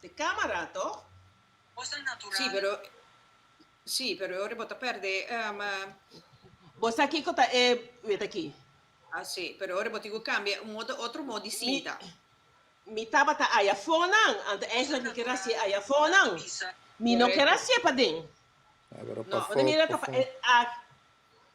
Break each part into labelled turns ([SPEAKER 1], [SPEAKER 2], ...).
[SPEAKER 1] Te camera toch? Bosa al natural. Sí, pero sí, pero e ora bo ta perde um. Bo sa kico ta e wet aki? Ah, sí, pero e ora bo tin cu cambia un modo otro mo di cinta. Mi, mi tabata aya fonan, anto eigenlijk mi ker hacié aya fonan. Mi no ker hacié paden. No, ora mira ta pa e.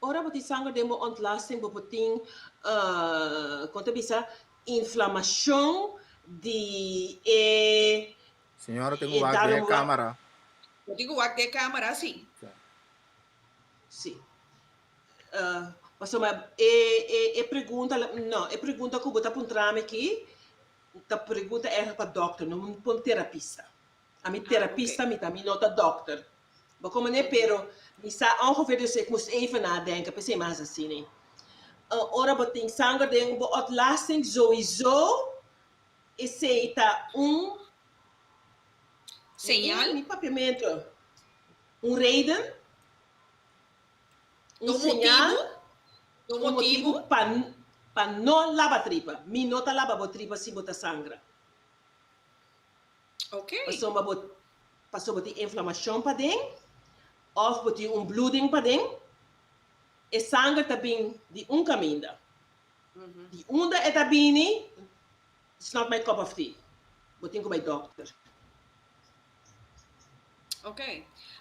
[SPEAKER 1] Ora bo tin sanger den bo ontlasting bo por tin kon ta bisa inflamashon di e Señora tin ku wak di e kamera. Bo tin ku wak di e kamera si. Si. Pasobra e pregunta no e pregunta ku bo ta puntrami aki ta pregunta egle pa dòkter no pa un terapista. A mi terapista mi ta mi no ta dokter bo con mane pero mi sa ongeveer dus ik moest even na denken p'esei mi hasi asina een ora bo tin sanger den bo otlasting zoizo esei ta un señal mi papiamento un reden un señal un motibu pa pa no laba tripa mi no ta laba bo tripa si bo ta sangra. Oké. Pasobra bo, paso bo tin inflamashon paden, òf bo tin un bluding paden, e sanger ta bini di un kaminda. Di unda e ta bini, it's not my cup of tea. Bo tin ku bai dòkter. Ok.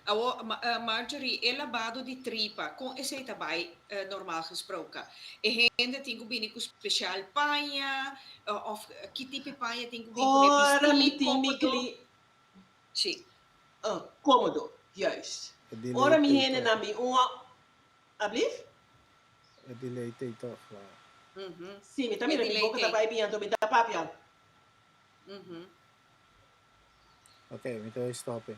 [SPEAKER 1] Awor, Marjorie, e labado di tripa, con esey ta bay normal gesproken? E hende tin cu bini cu special paña, of ki tipi paña tin cu bini cu e pisti comodo? Ora mi tin mi cli. Si. Comodo, juist. E di ley take off. Ablief? E di ley take off, la. Si, mi ta mira mi boca ta bay bien, anto mi ta papia. Ok, mi ta hoy stop e.